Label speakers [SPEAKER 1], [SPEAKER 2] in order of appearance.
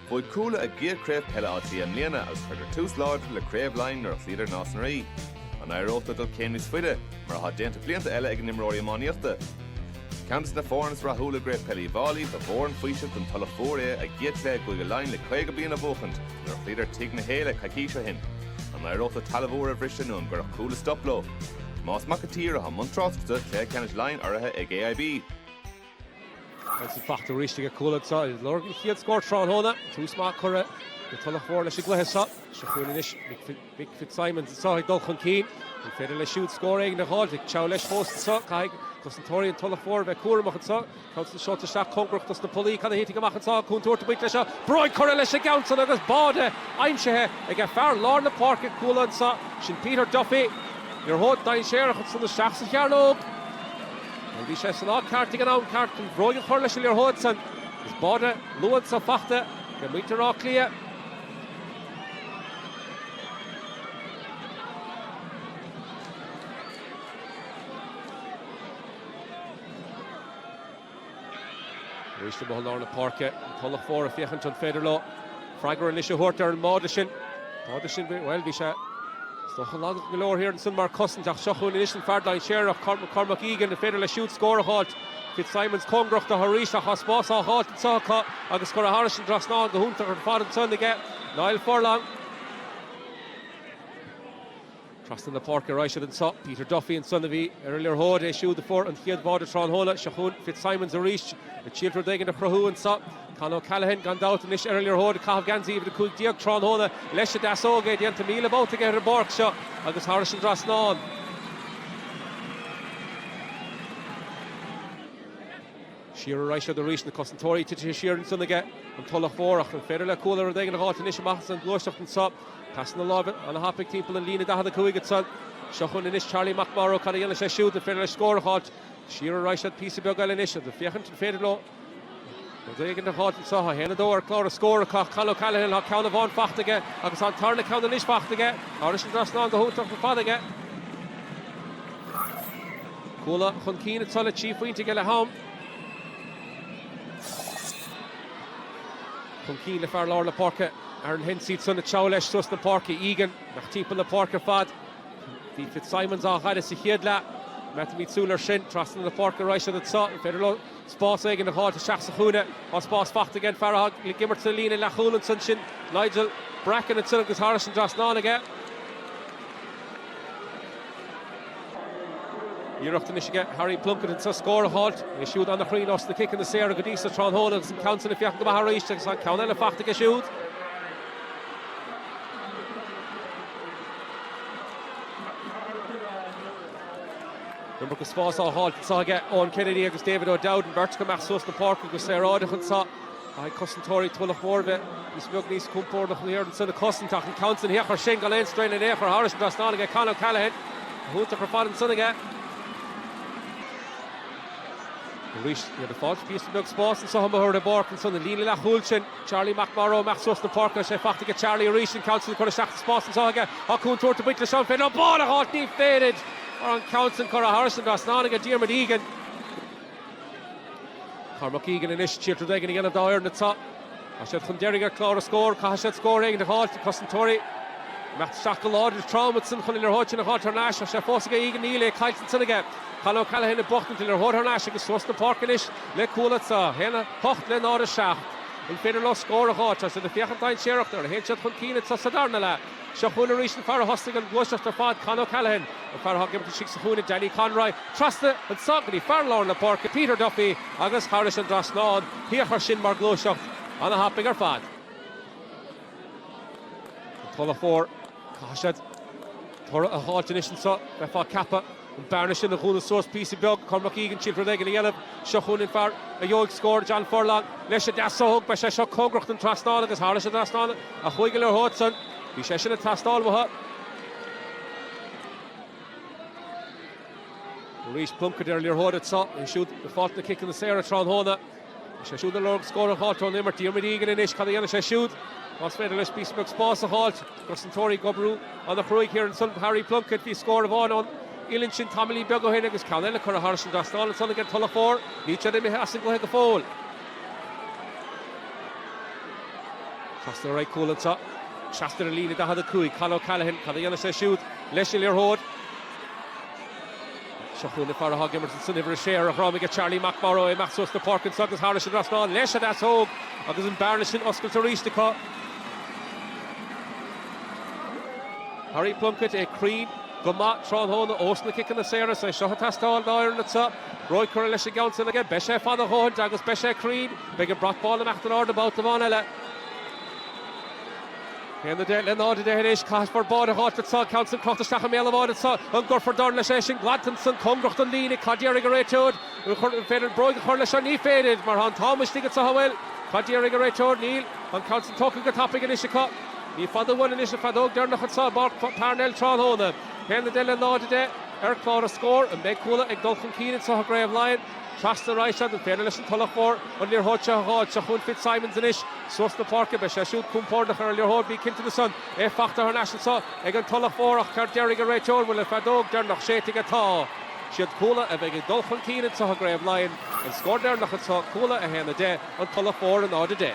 [SPEAKER 1] Bhuaigh Cuala a gcéad craobh peile Átha Cliath i mbliana agus chuireadar tús láidir le Craobh Laighean nuair a chloíodar Nás na Rí. An éireoidh leo dul céim níos faide, mar atá déanta blianta eile ag a n-imreoirí iománaíochta? Ceann de na foirne is rathúla i gCraobh Peile Uí bhFáilí, ba mhór an faoiseamh don Tulach Mhór é a gcéad cluiche i gCúige Laighin le 50 bliain a bhuachaint nuair a chloíodar Tigh na hÉille coicís ó shin. An éireoidh leo talamh úr a bhriseadh nó an gcuirfeadh Cuala stop leo? Tomás Mac an tSaoir atá i mbun tráchtaireachta Chluiche Ceannais Laighean urraithe ag AIB. Agus í fachta arís ag Cuala anseo, ag lorg an chéad scór tráthnóna. Tús maith curtha ag Tulach Mhór leis an gcluiche seo. Seo chugainn anois Mick Fitzsimons anseo ag dul chun cinn. An féidir leis siúd scór éigin a dh'fháilt? Ag teacht leis fós anseo, caithfidh cosantóirí an Tulach Mhóir a bheith cúramach anseo. Townsend seolta isteach cóngarach dos na pollaí, cad a thitfidh amach anseo? Cúntúirt ag baint leis seo, bróig curtha leis an gceann san agus báide aimsithe ag fear lár na páirce, Cuala anseo, sin Peter Duffy. Liathróid dainséarach ansan isteach sa chearnóg. Nuair a bhí sé san áit ceart ag an am ceart chun bróig a chur leis an liathróid san, is báide luath anso fachta ag muintir Átha Cliath. Arís amuigh i lár na páirce, an Tulach Mhór ag féachaint an féidir leo freagra anois a thabhairt ar an mbáide sin. Báide sin, bhuel, bhí sé, is dócha, lag go leor thiar ansin mar chosaint ach seo chugainn anois an fear dainséarach, Cormac, Cormac Egan, an féidir leis siúd scór a dh'fháilt? Fitzsimons cóngarach do arís ach tá spás á dh'fháilt anseo acu agus curtha thairis an dtrasnán go hiontach ar fad ansan aige Niall Furlong. Trasna na páirce a raghaidh siad anseo. Peter Duffy ansan a bhí ar an liathróid, é siúd a fuair an chéad bháide tráthnóna. Seo chugainn Fitzsimons arís, ag triail rud éigin a chruthú anseo. Con O'Callaghan, gan dabht, anois ar an liathróid, ag caitheamh geansaí uimhir 15 tráthnóna. Leis an deasóg é, déanta míle babhta aige ar an bpáirc seo agus thairis an dtrasnán. Siar a raghaidh siad arís, na cosantóirí. Titfidh sé siar ansan aige, an Tulach Mhór, ach an féidir le Cuala rud éigin a dh'fháilt anois amach as an ghluaiseacht anso? Pasanna láimhe ana-thapaidh timpeall an líne 45 ansan. Seo chugainn anois Charlie McMorrow, cad a dhéanfaidh sé siúd? An féidir leis scór a dh'fháilt? Siar a raghaidh siad píosa beag eile anois, ag féachaint an féidir leo rud éigin a dh'fháilt anso? Tá 1-2 ar chlár an scór acu ach Con O'Callaghan, tá ceann amháin fachta aige, agus tá an tarna ceann anois fachta aige. Thairis an dtrasnán go hiontach ar fad aige. Cuala chun cinn atá le trí phointe aige leath am. Chun cinn le fear lár na páirce, Aaron Hensey, siúd ag treabhadh leis suas na páirce. Egan, nach timpeall na páirce ar fad. Bhí Fitzsimons á fhaire sa chéad leath. Coimeádfaimid súil air sin, trasna na páirce a raghaidh san atá, an féidir leo? Spás éigin a dh'fháilt isteach sa chúinne. Tá spás faighte ag an bhfear atá ag imirt sa líne leathchúil anseo ansin. Nigel Bracken ansin agus thairis an dtrasnán aige. Iarracht anois aige Harry Plunkett anseo scór a dh'fháilt. É siúd ana-chruinn ós na ciceanna saora go dtí so tráthnóna agus an ceann sin ag féachaint go maith arís agus tá an ceann eile faighte aige siúd. Nuair agus spás á fháilt anso aige, Eoin Kennedy agus David O'Dowd, beirt ag imeacht suas na páirce go saoráideach anseo, caithfidh cosantóirí Tulach Mhóir a bheith píosa beag níos compordach na hiarrthóirí anseo le cosaint ach an ceann san fhíochmhar sin gan aon strae le n-é a chur thairis an trasnán aige, Con O'Callaghan, a thúntar chomh fada ansan aige. Arís, níl le fáil píosa beag spáis anseo i mo thuar de pháirc ansan, an líne leathchúil sin. Charlie McMorrow, imeacht suas na páirce agus é faighte aige Charlie arís, an ceann sin ag cur isteach sa spás anseo aige, tá Cuan tabhairt a baint le Seán féin, an ball a dh'fháilt níorbh fhéidir mar an ceann san curtha thairis an dtrasnán aige Diarmuid Egan. Cormac Egan anois, siad rud éigin a dhéanamh dá fhoireann atá. Tá siad chun deiridh ar chlár na scór, caithfidh siad scór éigin a dh'fháilt, na cosantóirí, imeacht isteach go láidir is trom iadsan chun an liathróid sin a dh'fháilt thar n-ais, tá sé fós aige Egan, níl, é caillte ansan aige, Con O'Callaghan ag buachtaint an liathróid thar n-ais agus suas na páirce anois, le Cuala atá 1, 8 le 0, 7. An féidir leo scór a dh'fháilt? Tá siad ag féachaint dainséarach nuair a théann siad chun cinn anseo sa darna leath. Seo chugainn arís an fear a thosnaigh an gluaiseacht ar fad, Con O'Callaghan. An fear atá ag imirt istigh sa chúinne, Danny Conroy. Trasna anseo go dtí fear lár na páirce, Peter Duffy, agus thairis an dtrasnán. Féach air sin mar ghluaiseacht. Ana-thapaidh ar fad. An Tulach Mhór. Caithfidh siad toradh a fháilt anois anseo. Bheifeá ceaptha an bearna sin a dhúnadh suas píosa beag. Cormac Egan tig rud éigin a dhéanamh. Seo chugainn an fear a gheobhaidh scór, John Furlong, leis an deasóg. Beidh sé seo cóngarach don trasnán agus thairis an trasnán a chuaigh an liathróid san bhí sé sin ag teastáil uathu. Arís, Plunkett ar an liathróid anseo. É siúd ag fáilt na ciceanna saora tráthnóna. Bhí sé siúd ag lorg scóir a fháilt ón imirt. Diarmuid Egan anois, cad a dhéanfaidh sé siúd? Más féidir leis píosa beag spáis a fháilt, na cosantóirí ag oibriú an-chruaidh thiar ansan do Harry Plunkett. Bhí scór amháin ón uillinn sin tamaillín beag ó shin agus ceann eile curtha thairis an dtrasnán ansan ag an Tulach Mhór. Níl siad imithe as an gcluiche go fóill. Trasna ar aghaidh cúil anseo. Trasna ar líne 45, Con O'Callaghan, cad a dhéanfaidh sé siúd leis an liathróid? Seo chugainn an fear atá ag imirt san uimhir a sé ar a dhroim aige, Charlie McMorrow, imeacht suas na páirce anseo agus thairis an trasnán leis an deasóg agus an bearna sin oscailte arís acu. Harry Plunkett é cruinn go maith tráthnóna ós na ciceanna saora, is é seo atá ag teastáil dá fhoireann anseo. Bróg curtha leis an gceann sin aige, beidh sé fada a dhóthaint agus beidh sé cruinn. Beidh an brat bán imeacht in airde babhta amháin eile. 1 10 le 0 10 anois. Caithfidh fear báire a shá anseo, ceann san crochta isteach i mbéal an bháire anseo. An gcuirfear dorn leis é sin? Glantann san cóngarach don líne. Cad déarfaidh an réiteoir? An chuir, an féidir bróg a chur leis seo? Ní féidir, mar tá an t-am istigh anseo. An bhfuil? Cad déarfaidh an réiteoir? Níl. Tá an ceann san tógtha go tapaidh anois acu. Ní fada uainn anois an feadóg deireanach anseo i bPáirc Parnell tráthnóna. 1 10 le 0 10 ar chlár an scór. An mbeidh Cuala ag dul chun cinn anseo i gCraobh Laighean? Trasna arís anso, an féidir leis an Tulach Mhór an liathróid seo a dh'fháilt? Seo chugainn Fitzsimons anois, suas na páirce, beidh sé siúd cúmpórdach ar an liathróid, bí cinnte de san. É fachta thar n-ais anso ag an Tulach Mhór, ach cad déarfaidh an réiteoir? Bhfuil an feadóg deirneach séidte aige? Tá. 'Siad Cuala a bheidh ag dul chun cinn anso i gCraobh Laighean. An scór deirneach anso, Cuala 1, 10, an Tulach Mhór 0, 10.